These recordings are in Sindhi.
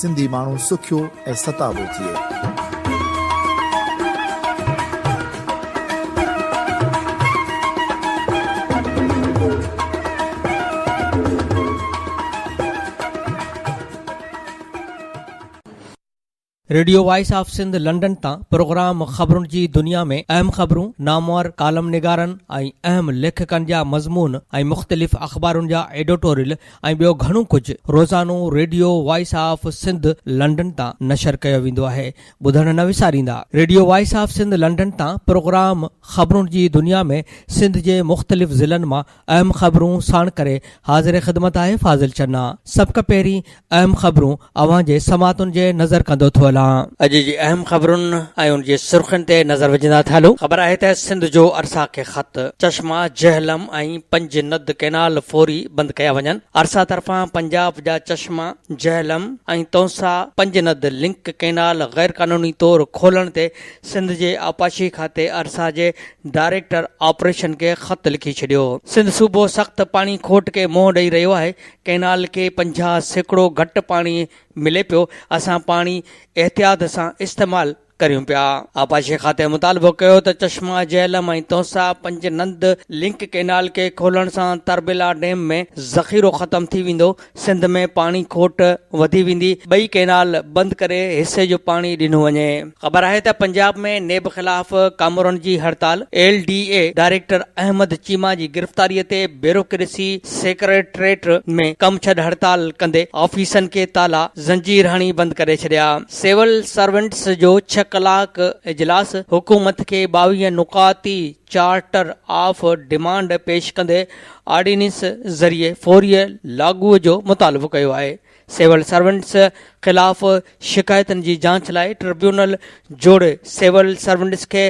سنڌي ماڻهو سکيو ۽ ستابو ٿئي. Radio voice of Sindh London تان پروگرام خبرن جي دنيا ۾ اهم خبرون، نامور ڪالم نگارن ۽ اهم ليکڪن جا مضمون ۽ مختلف اخبارن جا ايڊوٽوريل ۽ ٻيو گهڻو ڪجهه روزانو radio voice of Sindh London تان نشر ڪيو ويندو آهي ٻڌڻ نه وساريندا. Radio voice of Sindh London تان پروگرام خبرون جي دنيا ۾ سنڌ جي مختلف ضلعن مان اهم خبرون ساڻ ڪري حاضر خدمت آهي فاضل چنا سڀ کان پهرين اهم خبرون اوهان جي سماعتن جي نظر ڪندو ٿو هلان. اڄ جي اهم خبرن ۽ ان جي سرخين تي نظر وجهندا ٿا هلون. خبر آهي ته سنڌ جو ارسا کي خط، چشما، جهلم ۽ پنج ند ڪئنال فوري بند ڪيا وڃن. ارسا طرفان پنجاب جا چشما، جهلم ۽ تونسا پنج ند لنڪ ڪئنال غيرقانوني طور کولڻ تي سنڌ جي آبپاشي کاتي ارسا جي ڊائريڪٽر آپريشن کي خط لکي ڇڏيو. سنڌ صوبو سخت پاڻي کوٽ کي منهن ڏئي رهيو آهي، ڪئنال کي پنجاهه سيڪڙو گهٽ پاڻي ملي پيو، اسان پاڻي احتياط سان استعمال ڪريون پيا. آبپاشي کاتي مطالبو ڪيو ته چشما جهلم ۽ تونسا پنج نند لنڪ ڪئنال کي کولڻ سان تربيلا ڊيم ۾ ذخيرو ختم ٿي ويندو، سنڌ ۾ پاڻي کوٽ وڌي ويندي، ٻئي ڪئنال بند ڪري حصي جو پاڻي ڏنو وڃي. خبر آهي ته پنجاب ۾ نيب خلاف ڪامورن جي هڙتال، L D A director Ahmad Cheema جي گرفتاري تي بيوروڪريسي سيڪريٽريٽ ۾ ڪم ڇڏ هڙتال ڪندي آفيسن کي تالا زنجير هڻي بند ڪري ڇڏيا. سول سرونٽس جو ڇهه ڪلاڪ اجلاس حڪومت کي ٻاويهه نقاطي چارٽر آف ڊمانڊ پيش ڪندي آرڊيننس ذريعي فوري لاڳوء جو مطالبو ڪيو آهي. سول سرونٽس خلاف شڪايتن جي جاچ لاء ٽربيونل جوڙي سول سرونٽس کي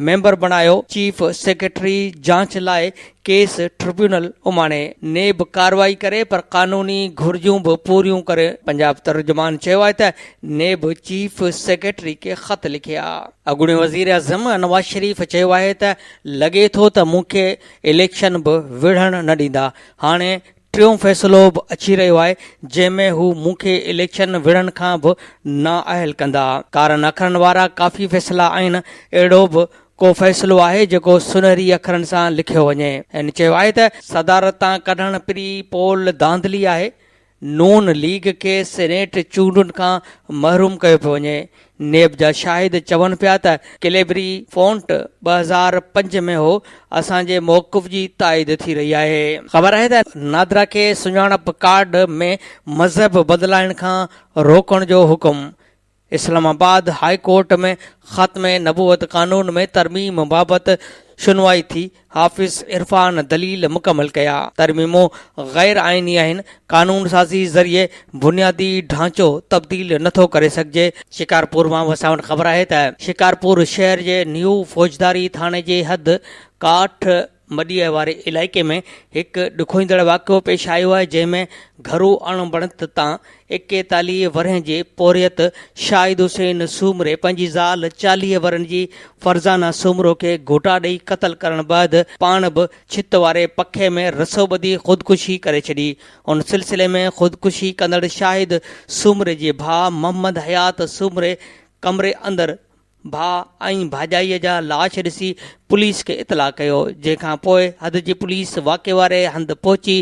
ميمبر بڻايو، چيف سيڪريٽري جاچ لاء ڪيس ٽربيونل اماڻي. نيب ڪارروائي ڪري پر قانوني گهرجون به پوريون ڪري. پنجاب ترجمان چيو آهي ته نيب چيف سيڪريٽري کي خط لکي آ. اڳوڻي وزيراعظم نواز شريف چيو آهي ته لڳي ٿو ته مون کي اليڪشن به وڙهڻ نه ڏيندا، هاڻي ٽيون فيصلو به اچي رهيو آهي جنهن ۾ هو مون کي اليڪشن وڙهڻ کان به نااهل ڪندا. ڪارن اکرن وارا ڪافي فيصلا آهن، اهڙو به ڪو فيصلو آهي جيڪو سنهري اکرن سان لکيو وڃي. هن چيو آهي ته. صدارت تان ڪڍڻ پري پول ڌانڌلي آهي، نون ليگ کي سينيٽ چونڊن کان محروم ڪيو پيو وڃي، نيب جا شاهد چون پيا ته ڪليبري فونٽ ٻه هزار پنج ۾ هو، اسان جي موقف جي تائيد ٿي رهي آهي. خبر آهي ته نادرا کي سڃاڻپ ڪارڊ ۾ مذهب بدلائڻ کان روڪڻ جو حڪم، اسلام آباد هاء ڪورٽ ۾ خاتمه نبوت قانون ۾ ترميم بابت شنوائي ٿي، حافظ عرفان دليل مڪمل ڪيا. ترميمون غير آئيني آهن، قانون سازي ذريعي بنيادي ڍانچو تبديل نه ٿو ڪري سگهجي. شڪارپور مان اسان وٽ خبر آهي ته شڪارپور شهر جي نيو فوجداري ٿاڻي جي حد ڪاٺ مڏيء واري علائقي ۾ هڪ ڏکوئيندڙ واقعو پيش آيو آهي جنهن ۾ گهرو اڻ بڻت تان ايڪيتاليهه ورهين جي پورهيت شاهد حسين سومري پنهنجي زال چاليهه ورهين جي فرزانه سومرو کي گهوٽا ڏئي قتل ڪرڻ بعد پاڻ به ڇت واري پکي ۾ رسو ٻڌي خودڪشي ڪري ڇڏي. ان سلسلي ۾ خودڪشي ڪندڙ شاهد سومري جي ڀاء محمد حيات سومري ڪمري اندر ڀاء ۽ ڀاڄائيء جا لاش ڏسي پوليس کي اطلاع ڪيو، جنهن کان پوء حد جي پوليس واقعي واري هنڌ پهچي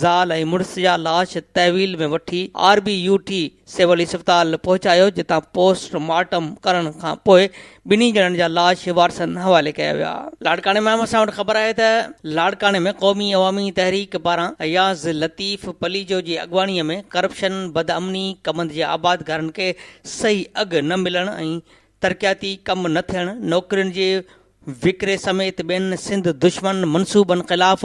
زال ۽ مڙس جا لاش تحويل ۾ وٺي R B U T civil اسپتال پهچايو جتان پوسٽ مارٽم ڪرڻ کان پوء ٻنهي ڄڻن جا لاش وارثن حوالي ڪيا ويا. لاڙڪاڻي مان اسان وٽ خبر آهي ته لاڙڪاڻي ۾ قومي عوامي تحريڪ پاران اياز لطيف پليجو جي اڳواڻي ۾ ڪرپشن، بدامني، ڪمند جي آبادگارن کي صحيح اگهه نه ملڻ ۽ ترقياتي ڪم نه ٿيڻ، نوڪرين جي وڪري سميت ٻين سنڌ دشمن منصوبن خلاف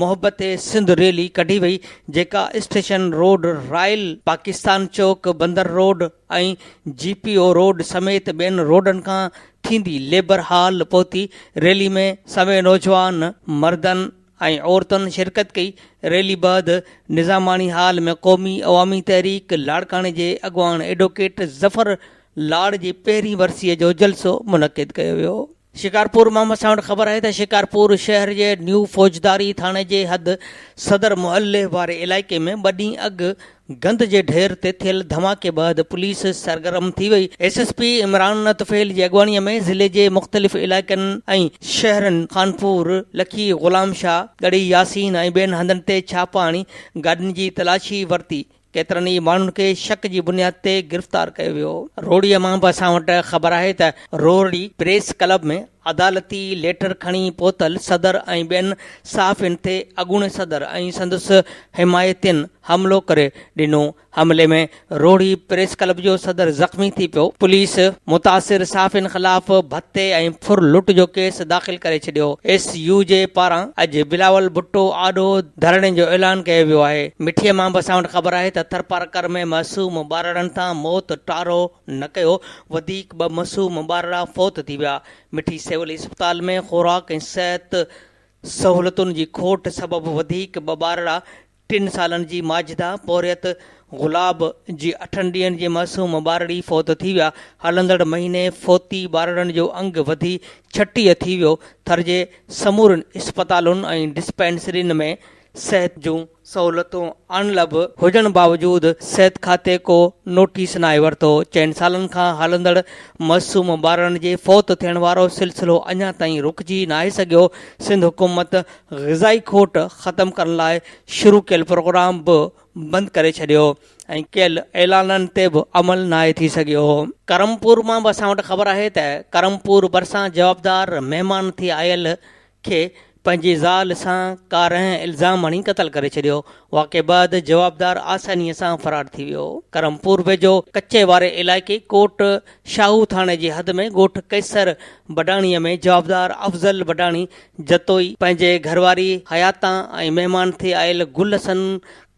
محبت سنڌ ريلي ڪڍي وئي جيڪا station road, royal Pakistan Chowk, Bunder road ۽ G P O road سميت ٻين روڊن کان ٿيندي ليبر هال پهتي، ريلي ۾ سوين نوجوان مردن ۽ عورتن شرڪت ڪئي ريلي بعد نظاماڻي هال ۾ قومي عوامي تحريڪ لاڙڪاڻي جي اڳواڻ ايڊوڪيٽ ظفر لاڙ جي پهرين ورسيء جو جلسو منعقد ڪيو ويو شڪارپور مان اسان وٽ خبر آهي ته شڪارپور شهر جي نيو فوجداري ٿاڻي جي حد صدر معليٰ واري علائقي ۾ ٻه ڏينهن اڳ گند جي ڍير تي ٿيل ڌماڪي بعد پوليس سرگرم ٿي وئي، S S P Imran Tufail جي اڳواڻي ۾ ضلعي جي مختلف علائقن ۽ شهرن خانپور، لکي، غلام شاهه، ڳڙهي ياسين ۽ ٻين هنڌن تي ڇاپا هڻي گاڏين جي تلاشي ورتي، ڪيترن ئي ماڻهن کي شڪ جي بنياد تي گرفتار ڪيو ويو. روهڙي مان به اسان وٽ خبر آهي ته روهڙي پريس ڪلب ۾ عدالتي ليٽر کڻي پهتل صدر ۽ ٻين صحافين تي اڳوڻي صدر ۽ سندس حمايتين حملو ڪري ڏنو، حملي ۾ روهڙي پريس ڪلب جو صدر زخمي ٿي پيو، پوليس متاثر صحافين خلاف ڀتي ۽ ڦر لٽ جو ڪيس داخل ڪري ڇڏيو، ايس يو جي پاران اڄ بلاول ڀٽو آڏو ڌرڻي جو اعلان ڪيو ويو آهي، مٺيء مان به اسان وٽ خبر آهي ته ٿرپارڪر ۾ معصوم ٻارڙن تان موت ٽارو. نه ڪيو، وڌيڪ ٻه معصوم ٻارڙا فوت ٿي ويا، مٺي سول اسپتال ۾ خوراڪ ۽ صحت سهولتن جي کوٽ سبب وڌيڪ ٻه ٻارڙا ٽن سالن جي ماجده پورهيت گلاب جي اٺن ڏينهن جي معصوم ٻارڙي فوت ٿي ويا، هلندڙ مهيني فوتي ٻارڙن جو انگ وڌي ڇٽيهه ٿي ويو، ٿر جي سمورين اسپتالن ۽ ڊسپينسرين ۾ صحت جون سهولتون اڻلڀ هجڻ باوجود صحت کاتي ڪو نوٽيس ناهي ورتو، چئن سالن کان هلندڙ معصوم ٻارڙن جي فوت ٿيڻ وارو سلسلو اڃا تائين رڪجي ناهي سگهيو، سنڌ حڪومت غذائي کوٽ ختم ڪرڻ لاء شروع ڪيل پروگرام به بند ڪري ڇڏيو ۽ ڪيل اعلانن تي به عمل ناهي ٿي سگهيو. ڪرم پور مان به اسان وٽ خبر آهي ته ڪرم پور ڀرسان جوابدار مهمان ٿي آيل کي پنهنجي زال سان ڪارنهن الزام هڻي قتل ڪري ڇڏيو، واقعي بعد جوابدار آسانيء سان فرار ٿي ويو. ڪرمپور ويجهو ڪچي واري علائقي ڪوٽ شاهو ٿاڻي جي حد ۾ ڳوٺ قيصر بڊاڻي ۾ جوابدار افضل بڊاڻي جتوئي پنهنجي گهرواري حياتان ۽ مهمان ٿي آيل گل حسن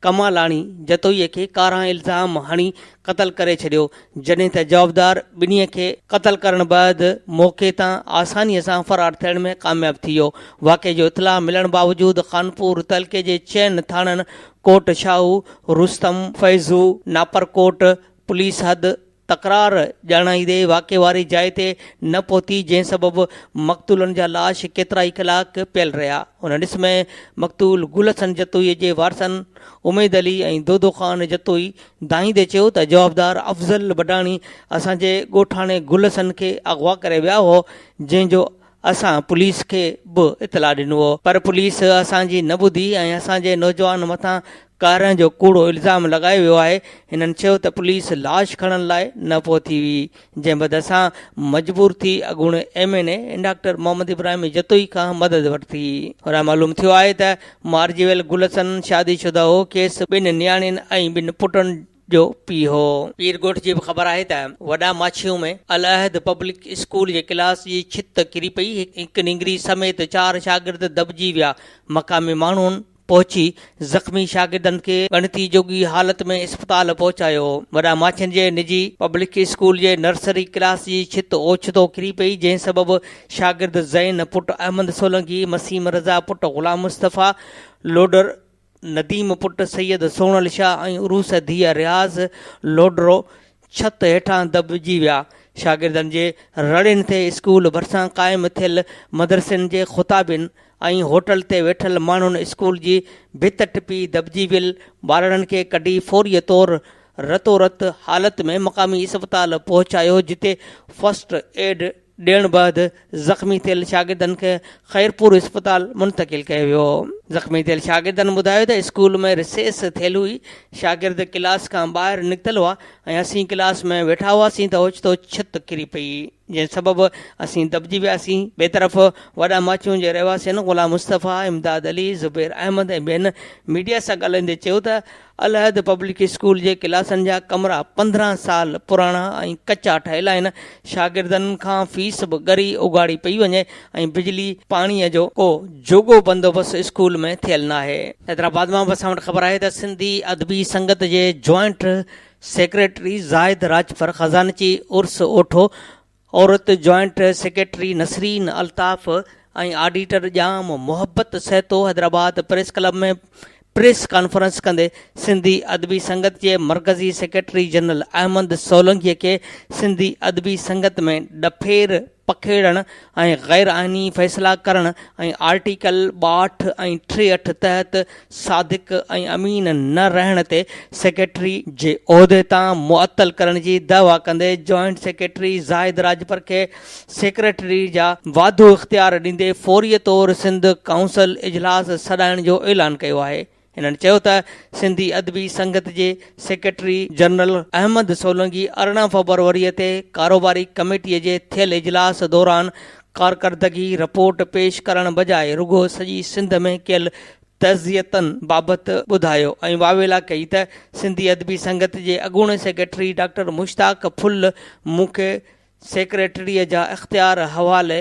ڪمالاڻي جتوئيء کي ڪارا الزام هڻي قتل ڪري ڇڏيو، جڏهن ته جوابدار ٻنهي کي قتل ڪرڻ بعد موقعي تان آسانيء سان فرار ٿيڻ ۾ ڪامياب ٿي ويو. واقعي جو اطلاع ملڻ باوجود خانپور تعلقي جي چئن ٿاڻن ڪوٽ شاهو، رستم، فيضو، ناپرڪوٽ، پوليس حد، تڪرار ڄاڻائيندي واقعي واري جاء تي نه پهتي جنهن سبب مقتولن جا لاش ڪيترائي ڪلاڪ پيل رهيا ان ڏس ۾ مقتول گل حسن جتوئي جي وارثن اميد علي ۽ دودو خان جتوئي دانهيندي چيو ته جوابدار افضل بڊاڻي اسان جي ڳوٺاڻي گل حسن کي اغوا ڪري ويا هئا جنهن جو اسان پوليس کي به اطلاع ڏنو هو پر پوليس اسان جي نه ٻڌي ۽ اسان جي نوجوان مٿان ڪارنهن جو ڪوڙو الزام لڳايو ويو آهي هنن چيو ته پوليس لاش کڻڻ لاء نه پهتي هئي جنهن بعد اسان مجبور ٿي اڳوڻي M N A doctor Muhammad Ibrahim Jatoi کان مدد ورتي هن معلوم ٿيو آهي ته مارجي ويل گلشن شادي شده هو کيس ٻن نياڻين ۽ ٻن پٽن جو پيء هو. پير ڳوٺ جي به خبر آهي ته وڏا ماڇيون ۾ العهد پبلڪ اسڪول جي ڪلاس جي ڇت ڪري پئي هڪ نينگري سميت چار شاگرد دٻجي ويا مقامي ماڻهن پهچي زخمي شاگردن کي ڳڻتي جوڳي حالت ۾ اسپتال پهچايو وڏا ماڇين جي نجي پبلڪ اسڪول جي نرسري ڪلاس جي ڇت اوچتو ڪري پئي جنهن سبب شاگرد زين پٽ احمد سولنگي مسيم رضا پٽ غلام مصطفيٰ لوڊر نديم پٽ سيد سون الشا ۽ عروس ڌيء رياض لوڍرو ڇت هيٺان دٻجي ويا. شاگردن جي رڙين تي اسڪول ڀرسان قائم ٿيل مدرسن جي خطابين ۽ هوٽل تي ويٺل ماڻهن اسڪول جي ڀت ٽپي دٻجي ويل ٻارڙن کي ڪڍي فوريء طور رتو رت حالت ۾ مقامي اسپتال پهچايو جتي فرسٽ ايڊ ڏيڻ بعد زخمي ٿيل شاگردن کي خيرپور اسپتال منتقل ڪيو ويو زخمي ٿيل شاگردن ٻڌايو ته اسڪول ۾ رسيس ٿيل هئي شاگرد ڪلاس کان ٻاهر نڪتل هئا ۽ اسين ڪلاس ۾ ويٺا هئاسين ته اوچتو ڇت ڪري پئي جنهن سبب اسين دٻجي وياسين ٻئي طرف وڏا ماڇون جي رهواسين غلام مصطفيٰ امداد علي زبير احمد ۽ ٻين ميڊيا سان ڳالهائيندي چيو ته الهيد پبلڪ اسڪول جي ڪلاسن جا ڪمرا پندرهن سال پراڻا ۽ ڪچا ٺهيل آهن، شاگردن کان فيس به ڳري اگهاڙي پئي وڃي ۽ بجلي پاڻيء جو ڪو جوڳو بندوبست اسڪول ۾ ٿيل ناهي. حيدرآباد مان به اسان وٽ خبر آهي ته سنڌي ادبي سنگت جي جوائنٽ سيڪريٽري زاهد راڄپر خزانچي عرس اوٺو عورت joint secretary Nasreen Altaf ۽ auditor Jam Mohabbat Sahito Hyderabad press club ۾ press conference ڪندي سنڌي ادبي سنگت جي مرڪزي سيڪريٽري جنرل احمد سولنگي کي سنڌي ادبي سنگت ۾ ڏڦير پکيڙڻ ۽ غيرآئيني فيصلا ڪرڻ ۽ آرٽيڪل ٻاهٺ ۽ ٽيهٺ تحت صادق ۽ امين نه رهڻ تي سيڪريٽري جي عهدي تان معطل ڪرڻ جي دعويٰ ڪندي جوائنٽ سيڪريٽري زاهد راڄپر کي سيڪريٽري جا واڌو اختيار ڏيندي فوري طور سنڌ ڪائونسل اجلاس سڏائڻ جو اعلان ڪيو آهي هنن چيو ته سنڌي ادبي سنگت جي سيڪريٽري جنرل احمد سولنگي ارڙهن فبروري تي ڪاروباري ڪميٽي جي ٿيل اجلاس دوران ڪارڪردگي رپورٽ پيش ڪرڻ بجاء رڳو سڄي سنڌ ۾ ڪيل تعزيتن بابت ٻڌايو ۽ واويلا ڪئي ته سنڌي ادبي سنگت جي اڳوڻي سيڪريٽري ڊاڪٽر مشتاق ڦل مون کي سيڪريٽريء جا اختيار حوالي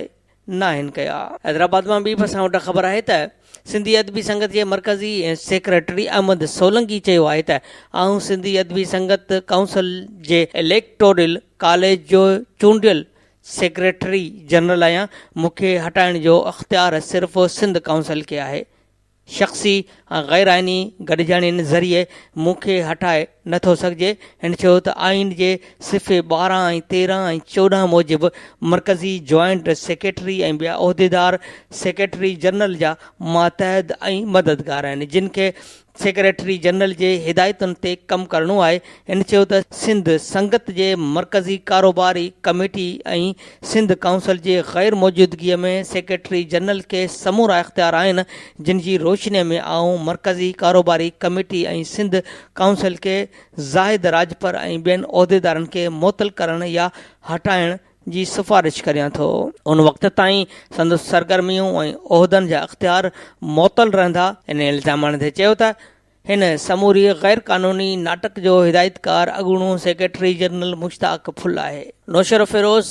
ناهن ڪيا. حيدرآباد مان ٻي به اسان وٽ خبر آهي ته سنڌي ادبي سنگت جي مرڪزي سيڪريٽري احمد سولنگي چيو آهي ته آئون سنڌي ادبي سنگت ڪائونسل جي اليڪٽورل ڪاليج جو چونڊيل سيڪريٽري جنرل آهيان، مون کي هٽائڻ جو اختيار صرف سنڌ ڪائونسل کي آهي، شخصي ۽ غير آئيني گڏجاڻين ذريعي مون کي هٽائي نه ٿو سگهجي، هن چيو ته آئين جي صفحي ٻارهن ۽ تيرهن ۽ چوڏهن موجب مرڪزي جوائنٽ سيڪريٽري ۽ ٻيا عهديدار سيڪريٽري جنرل جا ماتحت ۽ مددگار آهن جن کي سيڪريٽري جنرل جي هدايتن تي ڪم ڪرڻو آهي. هن چيو ته سنڌ سنگت جي مرڪزي ڪاروباري ڪميٽي ۽ سنڌ ڪائونسل جي غير موجودگي ۾ سيڪريٽري جنرل کي سمورا اختيار آهن جن جي روشني ۾ آئون مرڪزي ڪاروباري ڪميٽي ۽ سنڌ ڪائونسل کي زاهد راڄپر ۽ ٻين عهديدارن کي معطل ڪرڻ يا هٽائڻ جي سفارش ڪريان ٿو. ان وقت تائين سندس سرگرميون ۽ عهدن جا اختيار معطل رهندا. ان الزام آڻيندي چيو ته هن سموري غير قانوني ناٽڪ جو هدايتڪار اڳوڻو سيڪريٽري جنرل مشتاق ڦل آهي. نوشهرو فيروز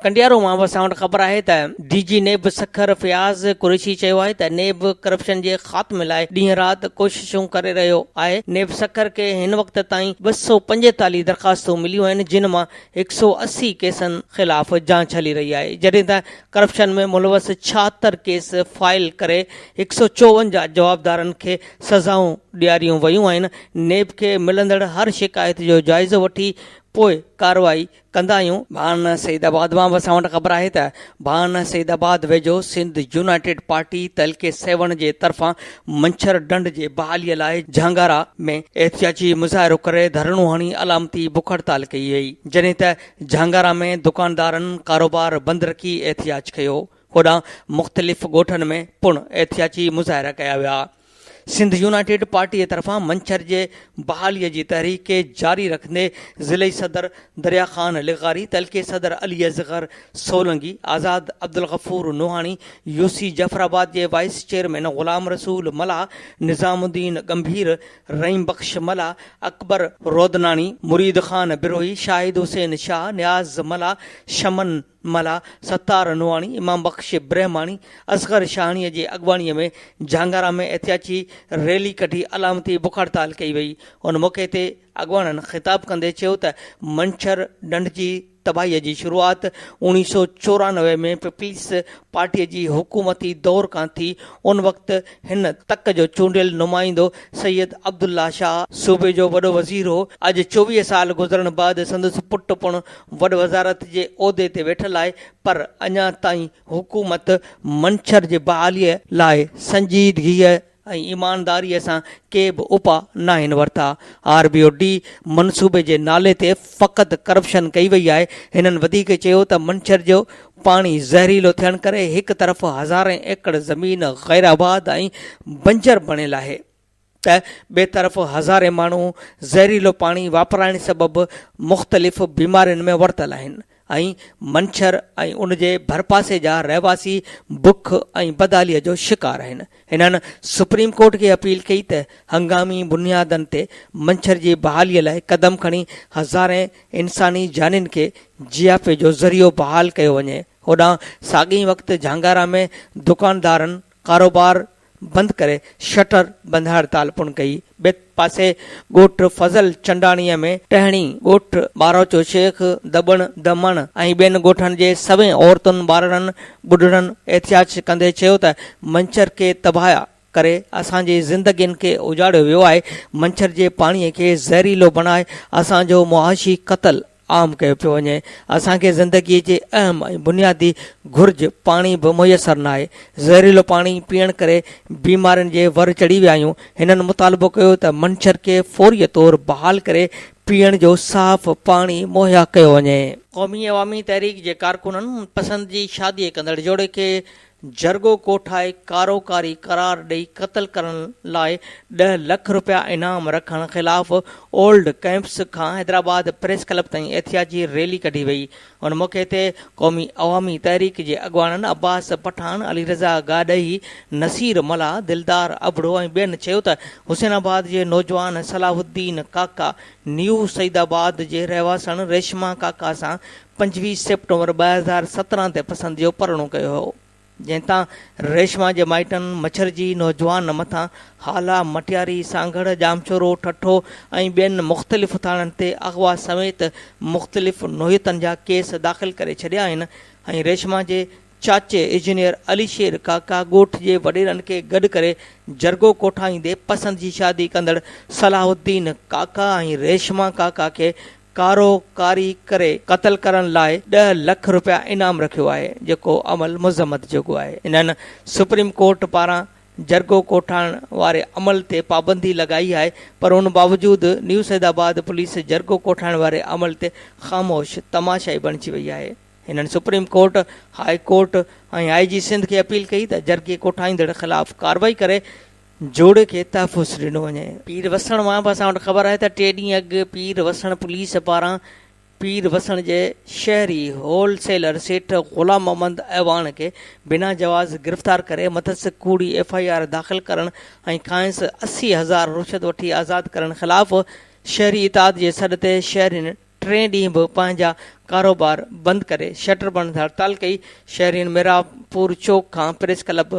ڪنڊيارو مان اسان وٽ خبر آهي ته D G NAB Sukkur Fayyaz Qureshi چيو آهي ته نيب ڪرپشن جي خاتمي لاء ڏينهن رات ڪوششون ڪري رهيو آهي. نيب سکر کي هن وقت تائين ٻه سؤ پنجيتاليهه درخواستون مليون آهن جن مان هڪ سؤ اسي ڪيسن خلاف جاچ هلي رهي آهي، جڏهن ته ڪرپشن ۾ ملوث ڇاهتر ڪيس فائل ڪري هڪ سؤ چوونجاهه جوابدارن کي سزائون ڏياريون ويون آهن، نيب کي ملندڙ هر شڪايت جو جائزو وٺي پوء ڪارروائي ڪندا آهيون. ڀان سعيد آباد مان به اسان وٽ خبر آهي ته ڀان سعيد آباد ويجهو سنڌ يونائيٽيڊ پارٽي تحلقي سيوهڻ جي طرفان منڇر ڍنڍ جي بحالي لاء جهانگارا ۾ احتجاجي مظاهرو ڪري ڌرڻو هڻي علامتي بک هڙتال ڪئي وئي جڏهن ته جهانگارا ۾ دڪاندارن ڪاروبار بند رکي احتجاج ڪيو هوڏانهن مختلف ڳوٺن ۾ پڻ احتجاجي مظاهرا ڪيا ويا سنڌ يونائيٽيڊ پارٽي طرفان منڇر جي بحالي جي تحريڪ کي جاري رکندي ضلعي صدر دريا خان لغاري تعلقي صدر علي اصغر سولنگي، آزاد، عبدالغفور نوحاڻي، يو سي جعفرآباد جي وائيس چيئرمين غلام رسول ملاح، نظام الدين ڳنڀير، رحيم بخش ملاح، اڪبر رودناڻي، مريد خان بروهي، شاهد حسين شاهه، نياز ملاح، شمن ملاح، ستار نوحاڻي، امام بخش برهماڻي، اصغر شاهاڻيء جي اڳواڻيء ۾ جهانگارا ۾ احتياجي ريلي ڪڍي علامتي بک هڙتال ڪئي وئي. ان موقعي تي اڳواڻن خطاب ڪندي چيو ته منڇر ڍنڍ جي تباهي جي شروعات اوڻيهه سؤ چورانوي ۾ پيپلز پارٽي جي حڪومتي دور کان ٿي، ان وقت هن تڪ جو چونڊيل نمائندو سيد عبدالله شاهه صوبي جو وڏو وزير هو، اڄ چوويهه سال گذرڻ بعد سندس پٽ پڻ وڏ وزارت جي عهدي تي ويٺل آهي پر اڃا تائين حڪومت منڇر جي بحالي لاء سنجيدگيء ۽ ايمانداريء سان ڪي به اپاء ناهن ورتا، آر بي او ڊي منصوبي جي نالي تي فقط ڪرپشن ڪئي وئي آهي، هنن وڌيڪ چيو ته منڇر جو پاڻي زهريلو ٿيڻ ڪري هڪ طرف هزارين ايڪڙ زمين غيرآباد ۽ بنجر بڻيل آهي ته ٻئي طرف هزارين ماڻهو زهريلو پاڻي واپرائڻ سبب مختلف بيمارين ۾ ورتل آهن، ۽ منڇر ۽ ان جي ڀرپاسي جا رهواسي بک ۽ بدحاليء جو شڪار آهن. هنن سپريم ڪورٽ کي اپيل ڪئي ته هنگامي بنيادن تي منڇر جي بحاليء لاء قدم کڻي هزارين انساني جانين کي جياپي جو ذريعو بحال ڪيو وڃي. هوڏانهن ساڳئي وقت جهانگارا ۾ دڪاندارن، ڪاروبار بند ڪري شٽر بند هڙتال پڻ ڪئي. ٻئي پاسي ڳوٺ فضل چنڊاڻيء ۾ ٽهڻي، ڳوٺ ٻاروچو شيخ، دٻڻ، دمڻ ۽ ٻين ڳوٺن جي سوين عورتن، ٻارڙن، ٻڍڙن احتجاج ڪندي چيو ته منڇر کي تباهه ڪري اسان جي زندگين کي اجاڙيو ويو آهي، منڇر جي پاڻي کي زهريلو بڻائي اسان جو معاشي قتل، عام ڪيو پيو وڃي. اسان کي زندگيء جي اهم ۽ بنيادي گهرج پاڻي به ميسر ناهي. زهريلو پاڻي پيئڻ ڪري بيمارين جي ور چڙهي ويا آهيون. هنن مطالبو ڪيو ته منڇر کي فوريء طور بحال ڪري پيئڻ جو صاف پاڻي مهيا ڪيو وڃي. قومي عوامي تحريڪ جي ڪارڪنن پسند جي شاديء ڪندڙ جوڙي کي جرڳو ڪوٺائي ڪارو ڪاري قرار ڏئي قتل ڪرڻ لاء ڏهه لک رپيا انعام رکڻ خلاف اولڊ ڪئمپس کان حيدرآباد پريس ڪلب تائين احتياجي ريلي ڪڍي وئي ان موقعي تي قومي عوامي تحريڪ جي اڳواڻن عباس پٺاڻ، علي رضا گاڏهي، نصير ملاح، دلدار ابڙو ۽ ٻين چيو ته حسين آباد جي نوجوان صلاح الدين ڪاڪا نيو سعيدآباد جي رهواسڻ ريشما ڪاڪا سان پنجويهه سيپٽمبر ٻه هزار سترهن تي پسند جو پرڻو ڪيو هو جنهن تان ريشما جي مائٽن مڇرجي نوجوان مٿان هالا، مٽياري، سانگهڙ، ڄامشورو، ٺٽو ۽ ٻين مختلف ٿاڻن تي اغوا سميت مختلف نوعيتن جا ڪيس داخل ڪري ڇڏيا آهن ۽ ريشما جي چاچي اجنيئر علي شير ڪاڪا ڳوٺ جي وڏيرن کي گڏ ڪري جرڳو ڪوٺائيندي پسند جي شادي ڪندڙ صلاح الدين ڪاڪا ۽ ريشما ڪاڪا کي ڪارو ڪاري ڪري قتل ڪرڻ لاء ڏهه لک رپيا انعام رکيو آهي جيڪو عمل مذمت جوڳو آهي انهن سپريم ڪورٽ پاران جرڳو ڪوٺائڻ واري عمل تي پابندي لڳائي آهي پر ان باوجود نيوسيدآباد پوليس جرڳو ڪوٺائڻ واري عمل تي خاموش تماشائي بڻجي وئي آهي. هنن supreme court, high court ۽ I G Sindh کي اپيل ڪئي ته جرڳي ڪوٺائيندڙ خلاف ڪارروائي ڪري جوڙي کي تحفظ ڏنو وڃي. پير وسڻ مان به اسان وٽ خبر آهي ته ٽي ڏينهن اڳ پير وسڻ پوليس پاران پير وسڻ جي شهري هول سيلر سيٺ غلام محمد اعواڻ کي بنا جواز گرفتار ڪري مٿس ڪوڙي ايف آء آر داخل ڪرڻ ۽ کانئس اسي هزار رشوت وٺي آزاد ڪرڻ خلاف شهري اتحاد جي سڏ تي شهرين ٽئين ڏينهن به پنهنجا ڪاروبار بند ڪري شٽر بند هڙتال ڪئي، شهرين ميرانپور چوڪ کان پريس ڪلب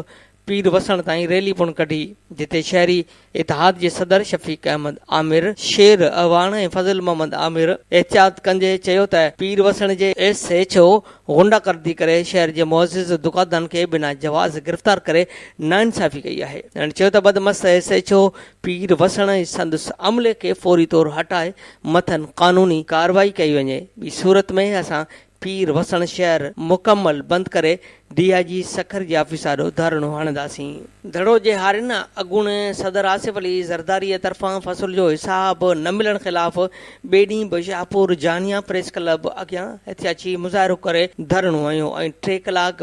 پير وسڻ تائين ريلي پڻ ڪڍي، جتي شهري اتحاد جي صدر شفيق احمد عامر، شير اعواڻ ۽ فضل محمد عامر احتجاج ڪندي چيو ته پير وسڻ جي ايس ايڇ او غنڊا گردي ڪري شهر جي معزز دڪاندارن کي بنا جواز گرفتار ڪري ناانصافي ڪئي آهي، هن چيو ته بدمست S H O Pir Wasan ۽ سندس عملي کي فوري طور هٽائي مٿن قانوني ڪارروائي ڪئي وڃي، ٻي صورت ۾ اسان پير وسڻ شهر مڪمل بند ڪري ڊي آء جي سکر جي آفيس آڏو ڌرڻو هڻنداسين. ڌڙو جي هارين اڳوڻي صدر آصف علي زرداري طرفان فصل جو حساب نه ملڻ خلاف ٻئي ڏينهن به شاهپور جانيا پريس ڪلب اڳيان احتجاجي مظاهرو ڪري ڌرڻو هنيو ۽ ٽي ڪلاڪ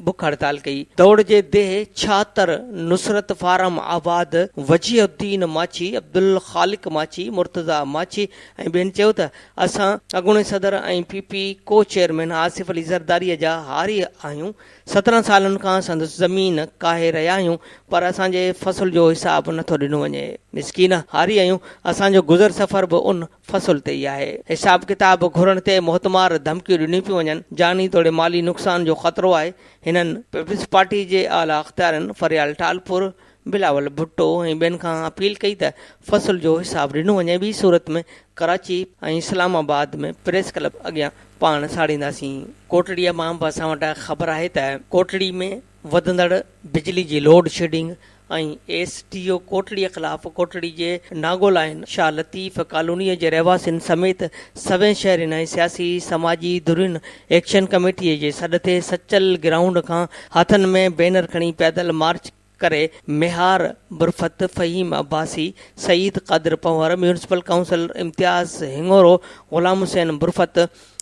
بک هڙتال ڪئي. دوڙ جي ديهه ڇاتر، نصرت فارم آباد، وجيهه الدين ماڇي، عبدالخالق ماڇي، مرتضيٰ ماڇي ۽ ٻين چيو ته اسان اڳوڻي صدر ۽ پي پي ڪو چيئرمين آصف علي زرداري جا هاري آهيون، سترهن سالن کان سندس زمين ڪاهي رهيا آهيون پر اسان جي فصل جو حساب نٿو ڏنو وڃي. مسڪين هاري آهيون، اسان جو گذر سفر به ان فصل تي ئي آهي. حساب ڪتاب گهرڻ تي موتمار ڌمڪيون ڏنيون پيون وڃن، جاني توڙي مالي نقصان جو خطرو آهي، هنن پيپلز پارٽي جي اعليٰ اختيارين فريال ٽالپر، بلاول ڀٽو ۽ ٻين کان اپيل ڪئي ته فصل جو حساب ڏنو وڃي ٻي صورت ۾ Karachi ۽ Islamabad ۾ press club اڳيان پاڻ ساڙينداسين. ڪوٽڙي مان به اسان وٽ خبر آهي ته ڪوٽڙي ۾ وڌندڙ بجلي جي load shedding ۽ S D O Kotri خلاف ڪوٽڙي جي ناگولائن شاهه لطيف ڪالوني جي رهواسين سميت سوين شهرين ۽ سياسي سماجي ڌرين ايڪشن ڪميٽي جي سڏ تي سچل گرائونڊ کان هٿن ۾ بينر کڻي پيدل مارچ ڪري ميهار برفت، فهيم عباسي، سعيد قادر پنهور، ميونسپل ڪائونسلر امتياز هڱورو، غلام حسين برفت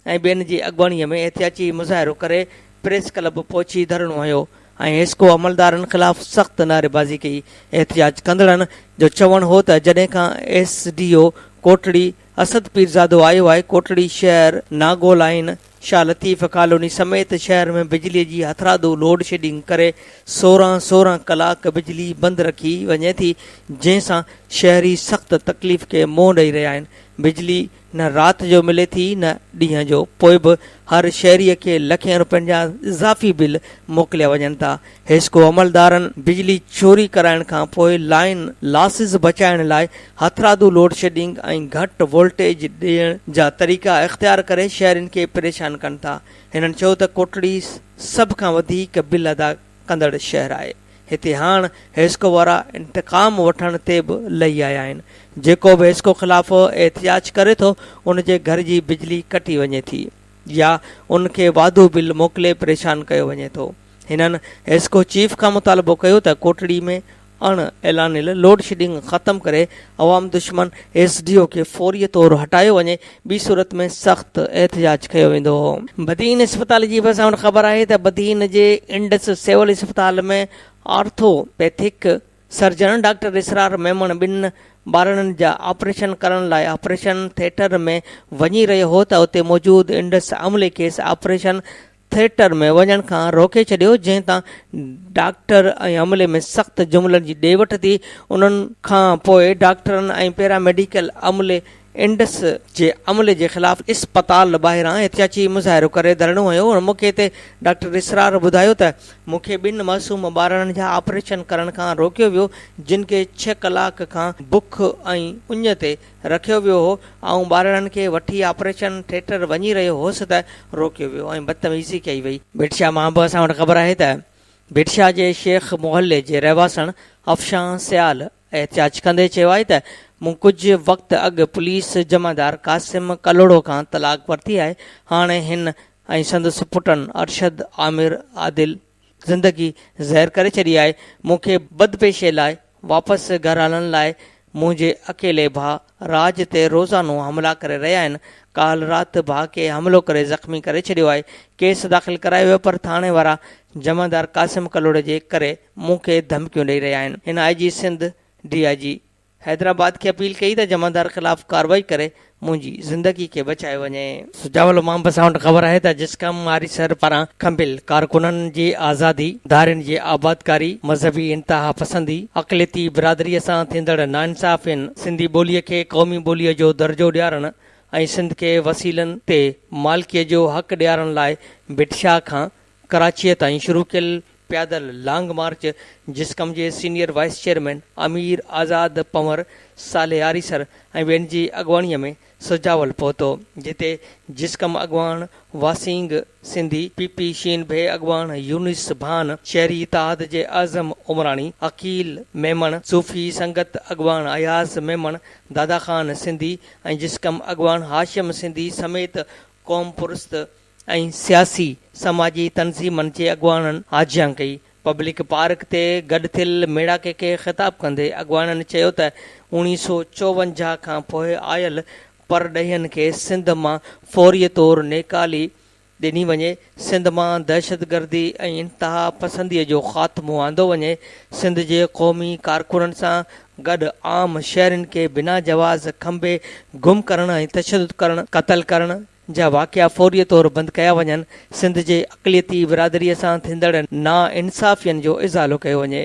۽ ٻين جي اڳواڻي ۾ احتياجي مظاهرو ڪري پريس ڪلب پهچي ڌرڻو هنيو ۽ حسڪو عملدارن خلاف سخت نعريبازي ڪئي، احتجاج ڪندڙن جو چوڻ هو ته جڏهن کان S D O Kotri. Asad Pirzado آيو آهي ڪوٽڙي شهر ناگو لائين شاهه لطيف ڪالوني سميت شهر ۾ بجلي جي هٿرادو لوڊ شيڊنگ ڪري سورهن سورهن ڪلاڪ بجلي بند رکي وڃي ٿي جنهن سان شهري سخت تڪليف کي منهن ڏئي رهيا آهن بجلي نه رات جو ملي ٿي نه ڏينهن جو پوء به هر شهري کي لکين روپين جا اضافي بل موڪليا وڃن ٿا حيسڪو عملدارن بجلي چوري ڪرائڻ کانپوء لائين لاسز بچائڻ لاء هٿرادو لوڊشيڊنگ ۽ گهٽ وولٽيج ڏيڻ جا طريقا اختيار ڪري شهرين کي پريشان ڪن ٿا. هنن چيو ته ڪوٽڙي سڀ کان وڌيڪ بل ادا ڪندڙ شهر آهي. هتي هاڻ حيسڪو وارا انتقام وٺڻ تي به لهي آيا آهن. جيڪو به حيسڪو خلاف احتجاج ڪري ٿو ان جي گهر جي بجلي ڪٽي وڃي ٿي يا ان کي واڌو بل موڪلي پريشان ڪيو وڃي ٿو. هنن ايسڪو چيف کان مطالبو ڪيو ته ڪوٽڙي ۾ اڻ اعلانيل لوڊ شيڊنگ ختم ڪري عوام دشمن ايس ڊي او کي فوري طور هٽايو وڃي ٻي صورت ۾ سخت احتجاج ڪيو ويندو. بدين اسپتال جي ڀرسان پڻ خبر آهي ته بدين جي انڊس سول اسپتال ۾ orthopaedic surgeon doctor Israr Memon ٻن ٻارڙن جا آپريشن ڪرڻ لاء آپريشن ٿيٽر ۾ وڃي رهيو هو ته اتي موجود انڊس عملي کيس آپريشن ٿيٽر ۾ وڃڻ کان روڪي ڇڏيو جنهن تان ڊاڪٽر ۽ عملي ۾ سخت جملن جي ڏي وٺ ٿي انهن کان پوء ڊاڪٽرن ۽ پيراميڊيڪل عملي انڊس جي عملي جي خلاف اسپتال ٻاهران احتجاجي مظاهرو ڪري ڌرڻو هنيو هن موقعي تي ڊاڪٽر اسرار ٻڌايو ته مون کي ٻن معصوم ٻارڙن جا آپريشن ڪرڻ کان روڪيو ويو جن کي ڇهه ڪلاڪ کان بک ۽ اڃ تي رکيو ويو هو، آئون ٻارڙن کي وٺي آپريشن ٿيٽر وڃي رهيو هوس ته روڪيو ويو ۽ بدتميزي ڪئي وئي. ڀٽشاه مان به اسان وٽ خبر آهي ته ڀٽشاه جي شيخ محلي جي رهواسڻ افشان سيال احتجاج ڪندي چيو آهي ته مون ڪجهه وقت اڳ پوليس جمعدار قاسم ڪلهوڙو کان طلاق ورتي آهي، هاڻي هن ۽ سندس پٽن ارشد، عامر، عادل، زندگي زهر ڪري ڇڏي آهي. مون کي بدپيشي لاء واپس گهر هلڻ لاء منهنجي اڪيلي ڀاء راڄ تي روزانو حملا ڪري رهيا آهن. ڪالهه رات ڀاء کي حملو ڪري زخمي ڪري ڇڏيو آهي. ڪيس داخل ڪرايو ويو پر ٿاڻي وارا جمعدار قاسم ڪلهوڙي جي ڪري مون کي ڌمڪيون ڏئي رهيا آهن. هن آء جي سنڌ، ڊي آء جي. حيدرآباد کي اپيل ڪئي ته جمعدار خلاف ڪارروائي ڪري منهنجي زندگي کي بچايو وڃي. سجاول امام اسان وٽ خبر آهي ته جسقم آريسر پاران کنڀيل ڪارڪنن جي آزادي، ڌارين جي آبادڪاري، مذهبي انتهاپسندي، اقليتي برادريء سان ٿيندڙ ناانصافين، سنڌي ٻوليء کي قومي ٻوليء جو درجو ڏيارڻ ۽ سنڌ کي وسيلن تي مالڪيء جو حق ڏيارڻ لاء ڀٽ شاهه کان ڪراچيء تائين شروع ڪيل پيادل لانگ مارچ جسقم جي senior vice chairman Amir Azad Panhwar صالح آريسر ۽ ٻين جي اڳواڻيء ۾ سجاول پهتو، جتي جسقم اڳواڻ واسينگ سنڌي، پي پي شين ڀي اڳواڻ يونس ڀان، شهري اتحاد جي اعظم عمراڻي، عقيل ميمڻ، صوفي سنگت اڳواڻ اياز ميمڻ، دادا خان سنڌي ۽ جسقم اڳواڻ هاشم سنڌي سميت قوم پرست ۽ سياسي سماجي تنظيمن جي اڳواڻن آجيان ڪئي. پبلڪ پارڪ تي گڏ ٿيل ميڙاڪي کي خطاب ڪندي اڳواڻن چيو ته اوڻيھ سؤ چوونجاھ کان پوء آيل پرڏيهين کي سنڌ مان فوري طور نيڪالي ڏني وڃي، سنڌ مان دهشتگردي ۽ انتها پسندي جو خاتمو آندو وڃي، سنڌ جي قومي ڪارڪنن سان گڏ عام شهرين کي بنا جواز کنڀي گم ڪرڻ ۽ تشدد ڪرڻ، قتل ڪرڻ، جا واقعا فوري طور بند ڪيا وڃن، سنڌ جي اقليتي برادري سان ٿيندڙ نا انصافين جو ازالو ڪيو وڃي،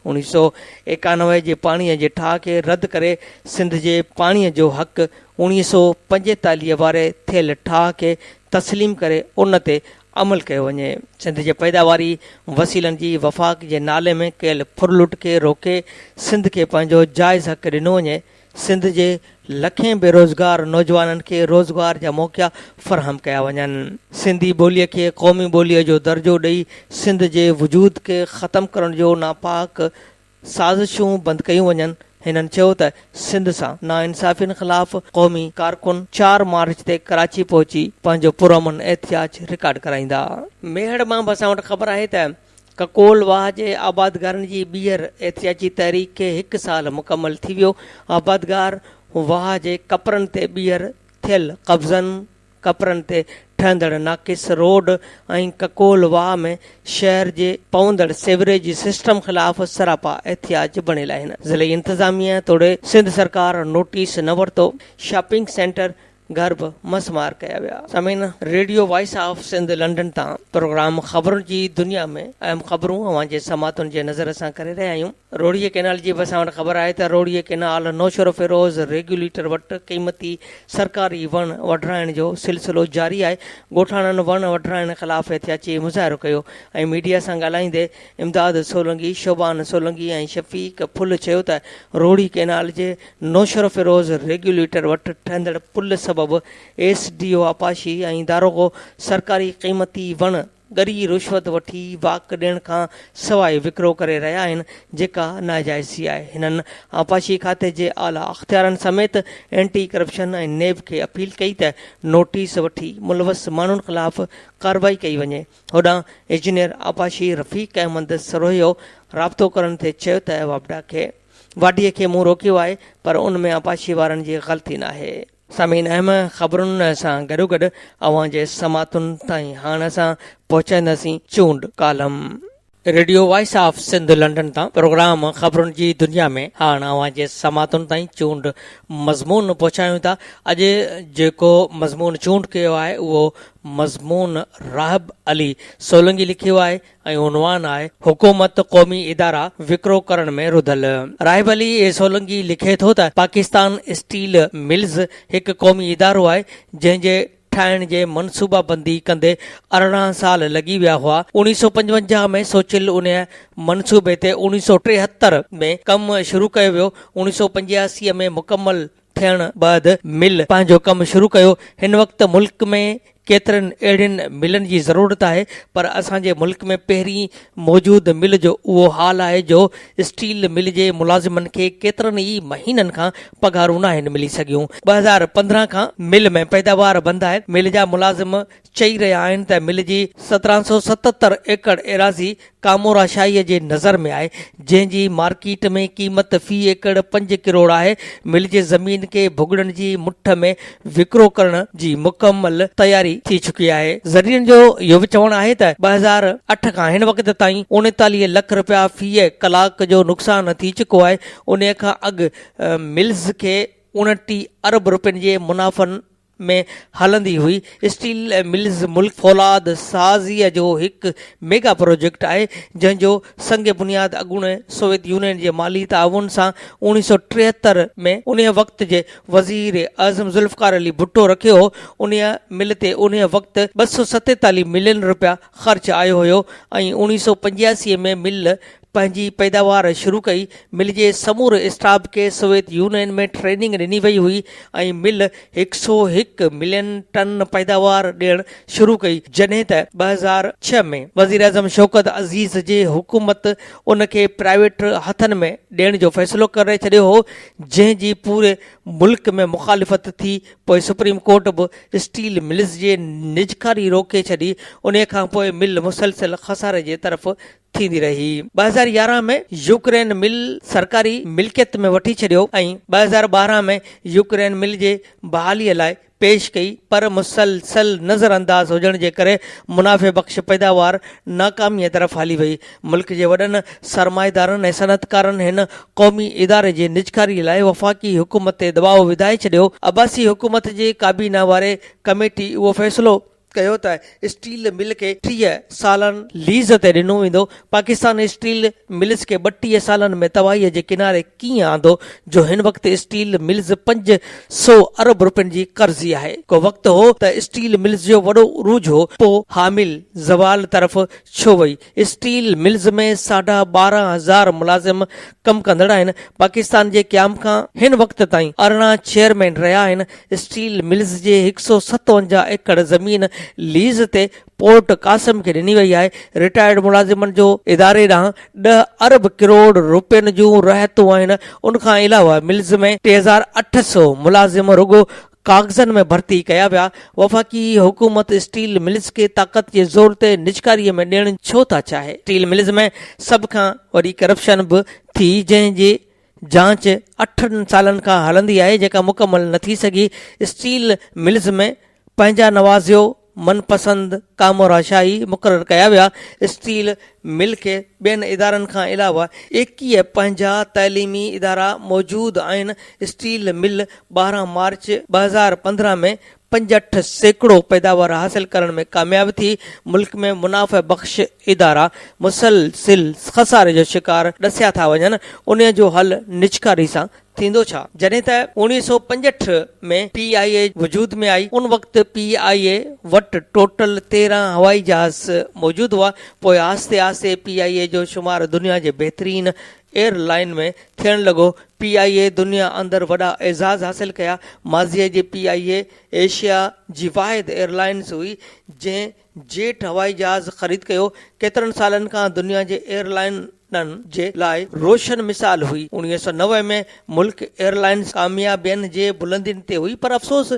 اوڻيھ سؤ ايڪانوي جي پاڻي جي ٺاھ کي رد ڪري سنڌ جي پاڻي جو حق اوڻيھ سؤ پنجيتاليھ واري ٿيل ٺاھ کي تسليم ڪري ان تي عمل ڪيو وڃي، سنڌ جي پيداواري وسيلن جي وفاق جي نالي ۾ ڪيل ڦرلٽ کي روڪي سنڌ کي پنهنجو جائز حق ڏنو وڃي، سنڌ جي لکين بيروزگار نوجوانن کي روزگار جا موقعا فراهم ڪيا وڃن، سنڌي ٻوليء کي قومي ٻوليء جو درجو ڏئي سنڌ جي وجود کي ختم ڪرڻ جو ناپاڪ سازشون بند ڪيون وڃن، هنن چيو ته سنڌ سان ناانصافين خلاف قومي ڪارڪن چار مارچ تي ڪراچي پهچي پنهنجو پرامن احتجاج رڪارڊ ڪرائيندا. ميهڙ مان به اسان وٽ خبر آهي ته ڪڪول واهه جي آبادگارن جي ٻيهر احتجاجي تحريڪ کي هڪ سال مڪمل ٿي ويو، آبادگار واهه جي ڪپرن تي ٻيهر ٿيل قبضن، ڪپرن تي ٺهندڙ ناقص روڊ ۽ ڪڪول واهه ۾ شهر جي پوندڙ سيوريج سسٽم خلاف سراپا احتجاج بڻيل آهن، ضلعي انتظاميه توڙي سنڌ سرڪار نوٽيس نه ورتو، شاپنگ سينٽر گهر به مس مار ڪيا ويا. سامعين! Radio voice of Sindh London تان پروگرام خبرن جي دنيا ۾ اهم خبرون اوهان جي سماعتن جي نظر سان ڪري رهيا آهيون. روهڙيء ڪئنال جي به اسان وٽ خبر آهي ته روهڙيء ڪئنال نوشهروفيروز ريگيوليٽر وٽ قيمتي سرڪاري وڻ وڍرائڻ جو سلسلو جاري آهي. ڳوٺاڻن وڻ وڍرائڻ خلاف احتياجي مظاهرو ڪيو ۽ ميڊيا سان ڳالهائيندي امداد سولنگي، شعبان سولنگي ۽ شفيق ڦل چيو ته روهڙي ڪئنال جي نوشهروفيروز ريگيوليٽر وٽ ٺهندڙ پل سبب ايس ڊي او آپاشي ۽ داروغو سرڪاري قيمتي وڻ ڳري رشوت وٺي واڪ ڏيڻ کان سواء وڪرو ڪري رهيا آهن جيڪا ناجائزي آهي هنن آپاشي کاتي جي اعليٰ اختيارن سميت اينٽي ڪرپشن ۽ نيب کي اپيل ڪئي ته نوٽيس وٺي ملوث ماڻهن خلاف ڪارروائي ڪئي وڃي هوڏانهن اجنيئر آپاشي رفيق احمد سروهيو رابطو ڪرڻ تي چيو ته واپڊا کي واڍيء کي مون روڪيو آهي پر ان ۾ آبپاشيء وارن جي غلطي ناهي. سامعين اهم خبرن سان گڏوگڏ اوهان جي سماعتن تائين هاڻ اسان پهچائينداسين چونڊ column. Radio voice of Sindh London تان پروگرام خبرن جي دنيا ۾ هاڻ اوهان جي سماعتن تائين چونڊ مضمون پهچايون ٿا. اڄ جيڪو مضمون چونڊ ڪيو آهي اهو مضمون راهب علي سولنگي لکيو آهي ۽ عنوان آهي حڪومت قومي ادارا وڪرو ڪرڻ ۾ رڌل. راهب علي سولنگي لکي ٿو ته پاڪستان اسٽيل ملز هڪ قومي ادارو آهي جنهن جي ٺاهڻ جي منصوبه بندي ڪندي ارڙهن سال لڳي ويا هئا اوڻيهه سؤ پنجونجاهه ۾ سوچيل انهي منصوبي تي اوڻيهه سؤ ٽيهتر ۾ ڪم شروع ڪيو ويو اوڻيهه سؤ پنجياسي ۾ مڪمل ٿيڻ بعد مل پنهنجو ڪم شروع ڪيو هن وقت ملڪ ۾ ڪيترن اهڙين ملن جي ضرورت آهي پر اسان جي ملڪ ۾ پهرين موجود مل جو اهو حال آهي جو اسٽيل مل جي ملازمن کي ڪيترن ئي مهينن کان پگهارون ناهن ملي سگهيون ٻه هزار پندرهن کان مل ۾ پيداوار بند آهي مل جا ملازم چئي رهيا آهن ته مل جي سترهن سؤ ستتر ايڪڙ ايراضي ڪامورا شاهيء جي نظر ۾ آهي، جنهن جي مارڪيٽ ۾ قيمت في ايڪڙ پنج ڪروڙ آهي. مل جي زمين کي ڀڳڙن جي مٺ ۾ وڪرو ڪرڻ جي مڪمل تياري ٿي چڪي آهي. ذريعن جو اهو به چوڻ آهي ته ٻه هزار اٺ کان هن وقت تائين اڻيتاليهه لک رپيا في ڪلاڪ جو نقصان ٿي چڪو آهي، انهيء کان اڳ ملز کي اڻٽيهه ارب رپين جي منافعن ۾ هلندي هئي، اسٽيل ملز ملڪ فولاد سازيء جو هڪ ميگا پروجيڪٽ آهي، جنهن جو سنگ بنياد اڳوڻي سوويت يونين جي مالي تعاون سان اوڻيهه سؤ ٽيهتر ۾ انهيء وقت جي وزير اعظم ذوالفقار علي ڀٽو رکيو هو، انهيء مل تي انهيء وقت ٻه سؤ ستيتاليهه ملين رپيا خرچ آيو هيو ۽ اوڻيهه سؤ پنجياسي ۾ مل پنهنجي پيداوار شروع ڪئي، مل جي سموري اسٽاف کي سوويت يونين ۾ ٽريننگ ڏني وئي هئي ۽ مل هڪ سؤ هڪ ملين ٽن پيداوار ڏيڻ شروع ڪئي، جڏهن ته ٻه هزار ڇهه ۾ وزيراعظم شوڪت عزيز جي حڪومت ان کي پرائيويٽ هٿن ۾ ڏيڻ جو فيصلو ڪري ڇڏيو هو، جنهن جي پوري ملڪ ۾ مخالفت ٿي، پوء سپريم ڪورٽ به اسٽيل ملز جي نجڪاري روڪي ڇڏي، انهي کانپوء مل مسلسل خساري جي طرف ٿيندي رهي. ٻه هزار يارهن ۾ يوڪرين مل سرڪاري ملڪيت ۾ وٺي ڇڏيو ۽ ٻه هزار ٻارهن ۾ يوڪرين مل جي بحالي لاء پيش ڪئي پر مسلسل نظر انداز هجڻ جي ڪري منافعي بخش پيداوار ناڪامي طرف هلي وئي. ملڪ جي وڏن سرمائيدارن ۽ صنعتڪارن هن قومي اداري جي نجڪاري لاء وفاقي حڪومت تي دٻاء وڌائي ڇڏيو. عباسي حڪومت جي ڪابينا واري ڪميٽي اهو فيصلو. ڪيو ته اسٽيل مل کي ٽيهه سالن ليز تي ڏنو ويندو، پاڪستان اسٽيل ملز کي ٻٽيهه سالن ۾ تباهي جي ڪناري ڪيئن آندو جو هن وقت اسٽيل ملز پنج سؤ ارب روپين جي قرضي آهي، ڪو وقت هو ته اسٽيل ملز جو وڏو عروج هو، پوء حامل زوال طرف ڇو وئي؟ اسٽيل ملز ۾ ساڍا ٻارهن هزار ملازم ڪم ڪندڙ آهن، پاڪستان جي قيام کان هن وقت تائين ارڙهن چيئرمين رهيا آهن، اسٽيل ملز جي هڪ سؤ ستونجاهه ايڪڙ زمين ليز تي پورٽ قاسم کي ڏني وئي آهي، رٽائرڊ ملازمن جو اداري ڏانهن ڏهه ارب ڪروڙ روپين جون رهتون آهن، ان کان علاوه ملز ۾ ٽي هزار اٺ سؤ ملازم رڳو ڪاغذن ۾ ڀرتي ڪيا ويا، وفاقي حڪومت اسٽيل ملز کي طاقت جي زور تي نجڪاري ۾ ڏيڻ ڇو ٿا چاهي؟ اسٽيل ملز ۾ سڀ کان وڏي ڪرپشن به ٿي جنهن جي جاچ اٺن سالن کان هلندي آهي جيڪا مڪمل نه ٿي سگهي، اسٽيل ملز ۾ پنهنجا نوازيو، من پسند ڪامو راشاهي مقرر ڪيا ويا، اسٽيل مل کي ٻين ادارن کان علاوه ايڪيهه پنهنجا تعليمي ادارا موجود آهن، اسٽيل مل ٻارهن مارچ ٻه هزار پندرهن ۾ پنجهٺ سيڪڙو پيداوار حاصل ڪرڻ ۾ ڪامياب ٿي، ملڪ ۾ منافع بخش ادارا مسلسل خساري جو شڪار ڏسيا ٿا وڃن، انهي جو حل نجڪاري سان ٿيندو ڇا؟ جڏهن ته اوڻيهه سؤ پنجهٺ ۾ پي آء اي وجود ۾ آئي، ان وقت پي آء اي وٽ ٽوٽل تيرهن هوائي جهاز موجود هئا، پوء آهستي آهستي پي آء اي جو شمار دنيا جي بهترين ايئر لائين ۾ ٿيڻ لڳو، پي آء اي دنيا اندر وڏا اعزاز حاصل ڪيا، ماضيء جي پي آء اي ايشيا جي واحد ايئر لائنز هئي، جنهن جيٽ هوائي جهاز خريد ڪيو، ڪيترن سالن کان دنيا جي ايئر لائين. ڏن جي لاء روشن مثال هئي. انويهه سؤ نوي ۾ ملڪ ايئرلائنز ڪاميابين جي بلندين تي هئي پر افسوس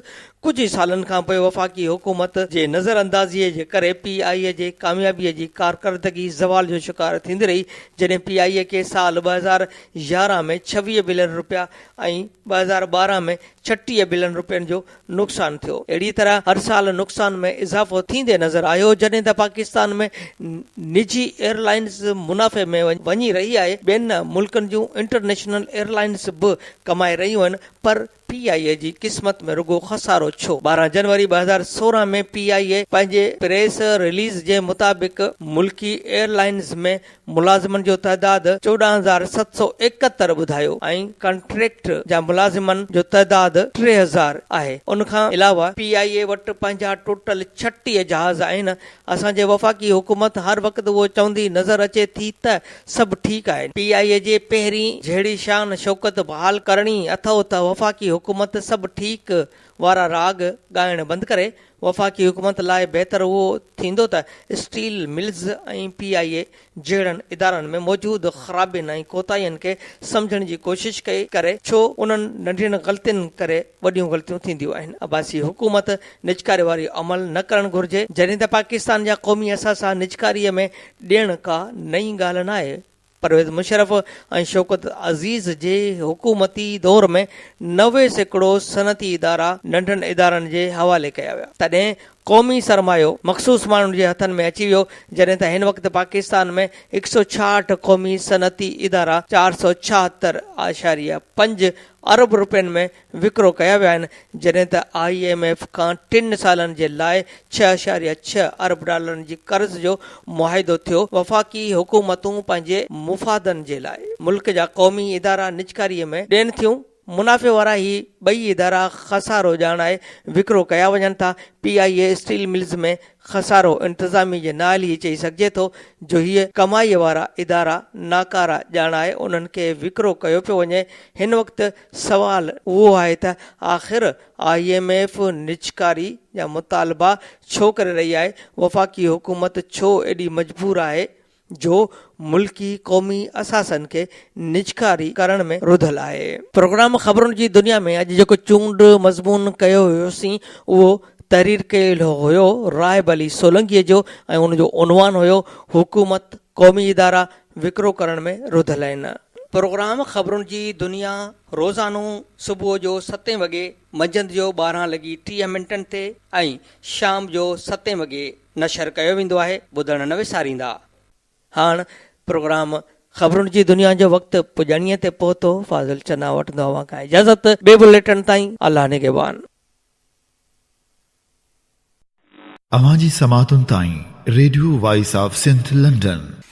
ڪجهه ئي سالن کان پوء وفاقي حڪومت جي نظر اندازيء جي ڪري پي آء اي جي ڪاميابيء جي ڪارڪردگي زوال جو شڪار ٿيندي رهي جڏهن پي آء اي کي سال ٻه هزار يارهن ۾ ڇويهه بلين رپيا ۽ ٻه هزار ٻارهن ۾ ڇٽيهه بلين رپين جو نقصان ٿيو اهڙي طرح هر سال نقصان ۾ اضافو ٿيندي نظر آيو جڏهن ته پاڪستان ۾ نجي ايئرلائينز منافعي ۾ وڃي رهي آهي ٻين ملڪن جون انٽرنيشنل ايئرلائينز به ڪمائي رهيون آهن پر پي آء اي جي قسمت ۾ رڳو خسارو ڇو ٻارهن جنوري ٻه هزار سورهن ۾ پي آء اي پنهنجي پريس رليز جي مطابق ملڪي ايئرلائينز ۾ ملازمن جو تعداد چوڏهن هزار ست سؤ ايڪهتر ٻڌايو ۽ ڪانٽريڪٽ جا ملازمن جو تعداد ٽي هزار آهي ان کان علاوه پي آء اي وٽ پنهنجا ٽوٽل ڇٽيهه جهاز آهن اسان جي وفاقي حڪومت هر وقت اهو چوندي نظر اچي ٿي ته سڀ ٺيڪ آهن پي آء اي جي پهرين جهڙي شان شوڪت بحال ڪرڻي اٿئو ته وفاقي حڪومت سڀ ٺيڪ وارا راڳ ڳائڻ بند ڪري وفاقي حڪومت لاء بهتر اهو ٿيندو ته steel mills ۽ P I A جهڙن ادارن ۾ موجود خرابين ۽ ڪوتاهين کي سمجهڻ جي ڪوشش ڪئي ڪري ڇو انهن ننڍين غلطين ڪري وڏيون غلطيون ٿينديون آهن عباسي حڪومت نجڪاري واري عمل نه ڪرڻ گهرجي جڏهن ته پاڪستان جا قومي اثاثا نجڪاري ۾ ڏيڻ ڪا نئين ڳالهه ناهي. پرويز مشرف ۽ شوڪت عزيز جي حڪومتي دور ۾ نوي سيڪڙو صنعتي ادارا ننڍن ادارن جي حوالي ڪيا ويا تڏهن قومي سرمايو مخصوص ماڻهن جي هٿن ۾ اچي ويو جڏهن ته هن وقت پاڪستان ۾ هڪ سؤ ڇاهٺ قومي صنعتي ادارا چار سؤ ڇاهتر اعشاريه پنج ارب روپين ۾ وڪرو ڪيا ويا آهن جڏهن ته آء ايم ايف کان ٽن سالن جي لاء ڇهه اعشاريه ڇهه ارب ڊالرن جي قرض جو معاهدو ٿيو، وفاقي حڪومتون پنهنجي مفادن جي لاء ملڪ جا قومي ادارا نجڪاري ۾ ڏين ٿيون، منافعي وارا هي ٻئي ادارا خسارو ڄاڻائي وڪرو ڪيا وڃن ٿا، P I A steel mills ۾ خسارو انتظامي جي نااهلي هي چئي سگهجي ٿو جو هي ڪمائي وارا ادارا ناڪارا ڄاڻائي انهن کي وڪرو ڪيو پيو وڃي، هن وقت سوال اهو آهي ته آخر آء ايم ايف نجڪاري جا مطالبا ڇو ڪري رهي آهي؟ وفاقي حڪومت ڇو ايڏي مجبور آهي جو ملڪي قومي اثاثن کي نجڪاري ڪرڻ ۾ رڌل آهي؟ پروگرام خبرن جي دنيا ۾ اڄ جيڪو چونڊ مضمون ڪيو هيوسين اهو تحرير ڪيل هيو راهب علي سولنگي جو ۽ ان جو عنوان هيو حڪومت، قومي ادارا، وڪرو ڪرڻ ۾ رڌل آهن. پروگرام خبرن جي دنيا روزانو صبح جو ستين وڳي، منجهند جو ٻارهن لڳي ٽيهه منٽن تي ۽ شام جو ستين وڳي نشر ڪيو ويندو آهي، ٻڌڻ نه وساريندا. هاڻ پروگرام خبرن جي دنيا جو وقت پڄاڻيء تي پهتو، فاضل چنا وٺندو اوهان کان اجازت، ٻئي بليٽن تائين الله نگهبان. اوهان جي سماعتن تائين radio voice of Sindh London.